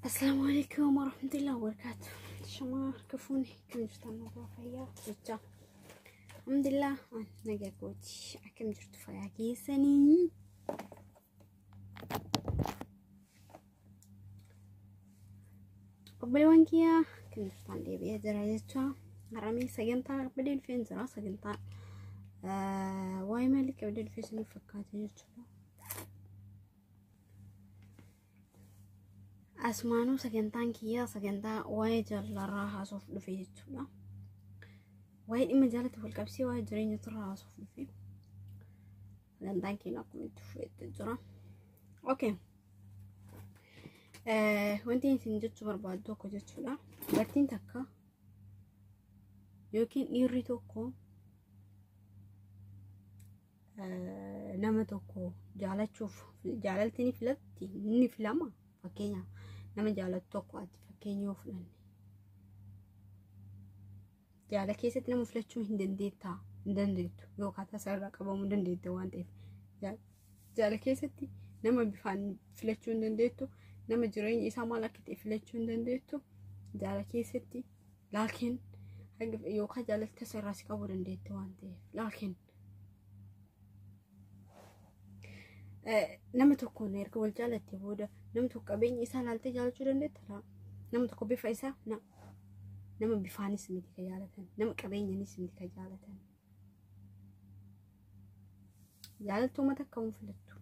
Asalaamu alaikum warahmatullahi wabarakatuh. Shamaa harka fuuni kan jirtan nagaa fayyaa jechaa. Alhamdulillah nagaa kooti akkam jirtu fayyaa keessanii. Obboleewwan kiyya kiristaanaa deebi'ee jira jecha haramee sagantaa qabdee dhufee jira sagantaa waa'ee maalii qabdee dhufee isiniif fakkaate jechuudha. Asumaanuu sagantaan kiyyaa sagantaa waa'ee jaalarraa haasoof dhufe jechuudha. Waa'ee dhimma jaalatti wal qabsee waa'ee jireenya turraa haasoof dhufe. Dantaan keenya akkuma itti fufeetti jira. Okay. Wanti isin jechuu barbaadu tokko jechuudha. Dubartiin takka yookiin dhiirri tokko nama tokko jaalachuuf jaalalti ni filatti ni filama fakkeenyaaf nama jaalatu tokko ati fakkeenya yoo fudhanne Jaala keessatti nama filachuu hin dandeettaa hin dandeettu yookaan tasaa irraa qabamuu dandeetta waan ta'eef jaala keessatti nama bifaan filachuu hin dandeettu nama jireenya isaa maal akka ta'e filachuu hin dandeettu jaala keessatti laakiin yookaan jaalalli tasaa irraa si qabuu dandeetta waan ta'eef laakiin nama tokkoon erga wal jaalattee booda nama tokko qabeenya isaa ilaaltee jaalachuu dandeetta laa nama tokko bifa isaa na nama bifaanis miti ka jaalatan nama qabeenyanis miti ka jaalatan jaalattuu mata akka hin filattu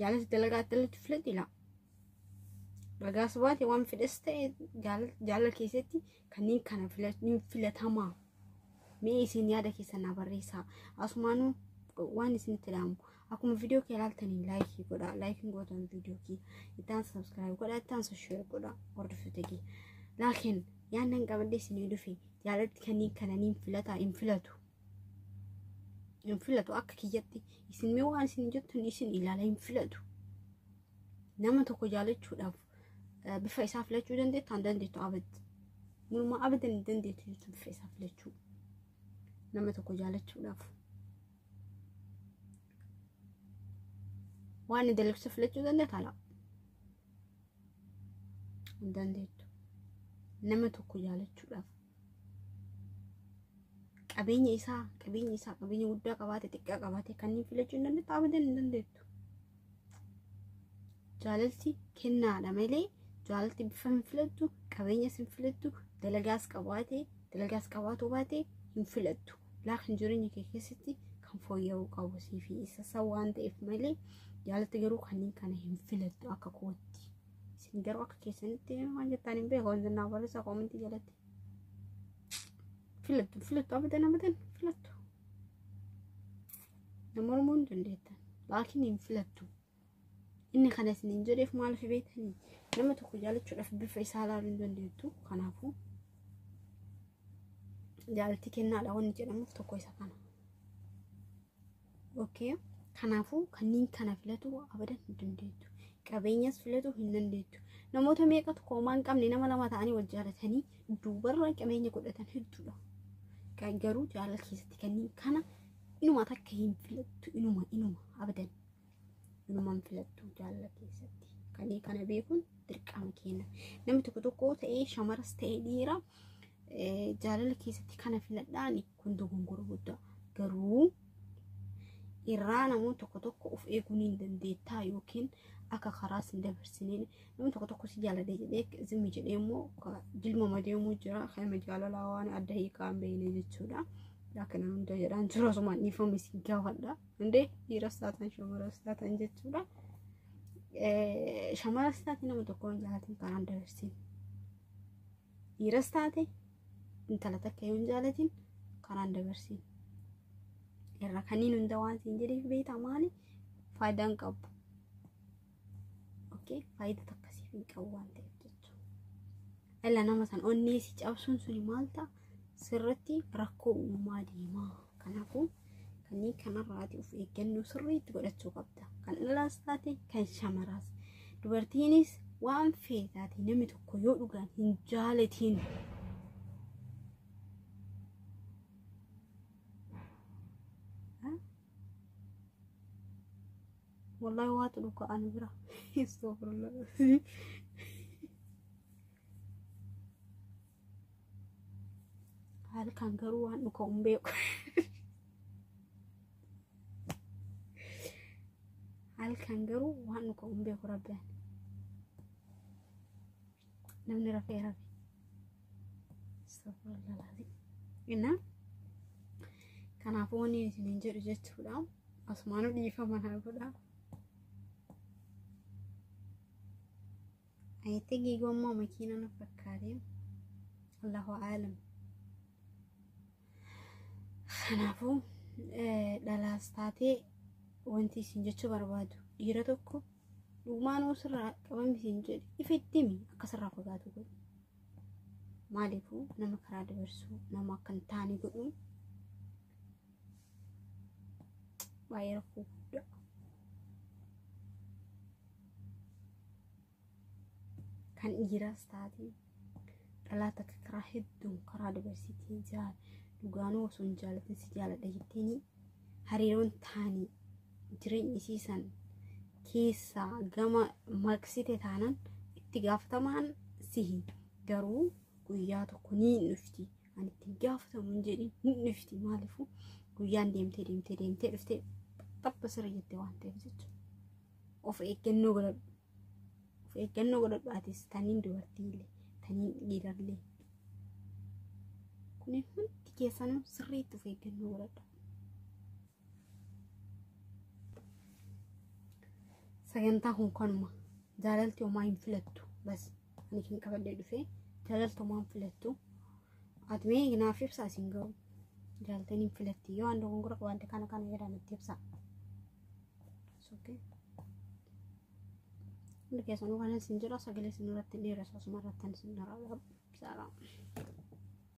jaalatti dalagaa dalatti filadhi laa dhagaas baate waan fedhes ta'e jaalala keessatti kanneen kana filachuun filatamaa mee isin yaada keessan naa barreessaa asumaanuu waan isinitti dhaamu akkuma viidiyoo kee ilaaltanii laayikii godhaa laayikiin gootan viidiyoo kee ittaan sabskiraayib godhaa ittaan sosheer godhaa hordoftoota kee laakiin yaannan qabadde isinii dhufe jaalatti kanneen kana niin filataa hin filatu hin filatu akka kiyyatti isin mee waan isin jettan isin ilaala hin filatu nama tokko jaalachuudhaaf bifa isaa filachuu dandeettu an dandeettu abad muluma abadan hin dandeettu jechuun bifa isaa filachuu nama tokko jaalachuudhaaf waan inni dalagsu filachuu dandeettu ala hin dandeettu nama tokko jaalachuudhaaf qabeenya isaa qabeenya isaa qabeenya guddaa qabaate xiqqaa qabaate kanneen filachuu hin dandeettu abadan hin dandeettu Jaalalti kennaadha malee jaalalti bifa hin filattu, qabeenyas hin filattu, dalagaas qabaate, dalagaas qabaatu baate hin filattu. Laakiin jireenya kee keessatti kan fooyya'uu qabu sii fi isa isa waan ta'eef malee jaalalti garuu kanneen kana hin filattu akka kootti. Isin garuu akka keessanitti waan jettaan hin beeku wanti naa barreessaa koomentii jalatti. Filattu filattu abadan abadan filattu. Na mormuu hin dandeettan. Laakiin hin filattu. Inni kana isin hin jedheef maaliif beektanii? Nama tokko jaalachuudhaaf bifa isaa ilaaluu hin dandeettu. Kanaafuu jaalalti kennaadha wanni jedhamuuf tokko isa kana. Okay. Kanaafuu kanneen kana filatu abadan hin dandeettu. Qabeenyas filatu hin dandeettu. Namoota meeqatu koomaa hin qabne nama lama ta'anii wal jaalatanii duubarra qabeenya godhatan hedduudha. Garuu jaalala keessatti kanneen kana inuma takka hin filattu inuma inuma abadan inuma hin filattu jaalala keessatti kan kana beekuun dirqama keenya namni tokko tokko ta'ee shamaras ta'ee dhiira eh, jaalala keessatti kana filadhaan kun dogongora guddaa garuu irraa namoonni tokko tokko of eeguu ni dandeettaa yookiin akka karaas hin dabarsineen Namni tokko tokko si jaalate jedhee zimmi jedhee immoo jilmama deemuu jira. Kan jaalalaa waan adda hiikaa hin beekne jechuudha. Laakiin hunda jedhaan jiru osuma dhiifame si gaafadha. Hundee dhiiras taatan shamaras taatan jechuudha. Shamaras taate nama tokko hin jaalatin kanaan dabarsin. Dhiiras taate intala takka yoo hin jaalatin kanaan dabarsin. Irra kanneen hunda waan siin jedheef beektaa maali faayidaan qabu. okay faayidaa takka siif hin qabu waan ta'eef jechuudha. Dhala nama san onnee si cabsuun suni maal ta'a sirratti rakkoo uumaa deemaa kanaafuu kanneen kanarraati of eeggannoo sirriitti godhachuu qabda kan dhalaas taate kan shamaraas dubartiinis waan feetaate namni tokko yoo dhugaan hin jaalatiin Wallahi waatu dhuka ani bira. Astagfirullah. Halkan garuu waan dhuka hin beeku. Halkan garuu waan dhuka hin beeku rabbi ani. namni rafee rafe Astaghfirullah laazim. Innaa kanaafuu wanni isiniin jedhu jechuudha. Asumaanuu dhiifama naa godha. Ayitti giigommoo makiina na fakkaate. Allahu aalam. Kanaafuu eh, dhalaas taatee wanti isin jechuu barbaadu dhiira tokko Dhugumaan hoo sirraa qabame siin jedhe ifa itti himi akka sirraa fagaatu godhi. Maaliifuu nama karaa dabarsuu nama akka hin taane godhuun baay'ee rakkoo guddaa. Kan dhiiraas taate dhalaa takka karaa hedduun karaa dabarsiitiin jaal dhugaanuu osoo hin jaalatin si jaaladha jetteeni hariiroon taanii jireenya isii san keessaa gama maqsite taanan itti gaafatamaan sihi garuu guyyaa tokko ni dhufti ani itti hin gaafatamu hin jedhin ni dhufti maaliifuu guyyaan deemtee deemtee deemtee dhuftee tapha sirrii jette waan ta'eef jechuudha of eeggannoo godhadhu of eeggannoo godhadhu atis taniin dubartiillee taniin dhiirallee kuni hundi keessanuu sirriitti of eeggannoo godhadha. Sagantaa kun kanuma jaalalti homaa hin filattu bas ani kan qabadhee dhufee jaalalti homaa hin filattu atmee naaf ibsaa isin ga'u jaalaltiin hin filatti yoo waan dogongora qabaadde kana kana jedhaa natti ibsaa. Soke. Hundi keessanuu kanan isin jira sagalee isin irratti hin dheeresu asuma irratti isin dharaadha. Saaraa.